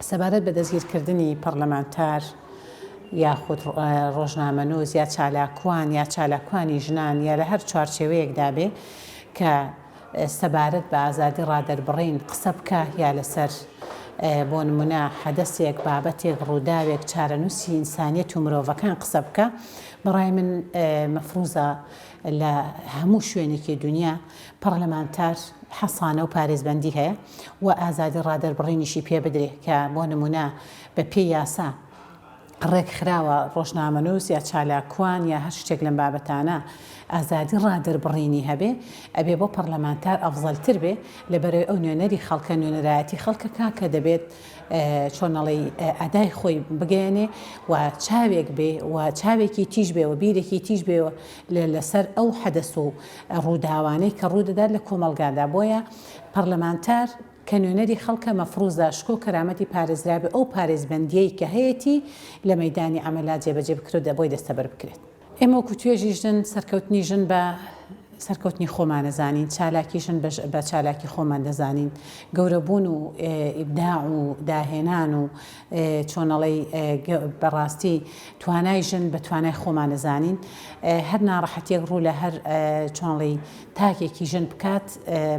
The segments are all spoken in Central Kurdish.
سەبارەت بە دەستگیرکردنی پەڕلەمانتار یاخود ڕۆژنامەنووس یا چالاکوان یا چالاکوانی ژنان یا لە هەر چوارچێوەیەکدا بێ کە سەبارەت بە ئازادی ڕادەربڕین قسە بکە یا لەسەر بۆ نمونە حەدەسێک بابەتێک ڕووداوێک چارەنووسی ئینسانیت و مرۆڤەکان قسە بکە بەڕای من مەفروزە لە هەموو شوێنێکی دنیا پەڕلەمانتار حەسانە و پارێزبەندی هەیە و ئازادی ڕادەربڕینیشی پێ بدرێ کە بۆ نموونە بە پێی یاسا ڕێکخراوە ڕۆژنامەنووس یا چالاکوان یا هەر شتێک لەم بابەتانە ئازادی ڕادەربڕینی هەبێ ئەبێ بۆ پەڕلەمانتار ئەفزەلتر بێ لەبەرەوەی ئەو نوێنەری خەڵکە نوێنەرایەتی خەڵکە کاکە دەبێت چۆنەڵی ئەدای خۆی بگەێنێ و چاوێک بێ و چاوێکی تیژ بێ و بیرێکی تیژ بێ لەسەر ئەو حەدەس و ڕووداوانەی کە ڕوودەدات لە کۆمەڵگادا بۆیە پەڕلەمانتار کە نوێنەری خەڵکە مەفڕوزا شکۆ کەرامەتی پارێزراوی ئەو پارێزبەندیەی کە هەیەتی لە مەیدانی عەمەلا جێبەجێ بکرێت دە بۆی دەستەبەر بکرێت. ئێمە وەکو توێژی ژن سەرکەوتنی ژن بە سەرکەوتنی خۆمان دەزانین، چالاکی ژن بە چالاکی خۆمان دەزانین، گەورەبوون و ئیبداع و داهێنان و چۆن ئەڵێی بەڕاستی توانای ژن بە توانای خۆمان ئەزانین هەر ناڕەحەتیەک ڕوو لە هەر چۆنڵی تاکێکی ژن بکات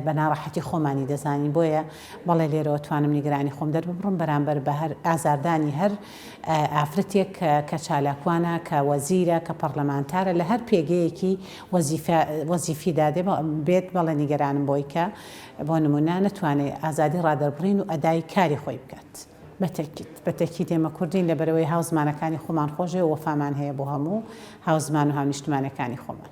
بە ناڕەحەتی خۆمانی دەزانین بۆیە بەڵێ لێرەوە توانم نیگرانی خۆم دەرببڕم بەرامبەر بە هەر ئازاردانی هەر ئافرەتێک کە چالاکوانە کە وەزیرە کە پەرلەمانتارە لە هەر پێگەیەکی وەزیفی دادێ بێت بەڵێ نیگەرانم بۆی کە بۆ نمونە نەتوانێت ئازادی ڕادەربڕین و ئەدای کاری خۆی بکات. ت بە تەکید بە تەکید ئێمە کوردین لەبەرئەوەی هاوزمانەکانی خۆمان خۆشدەوێ وەفامان هەیە بۆ هەموو هاوزمان و هاونیشتمانەکانی خۆمان.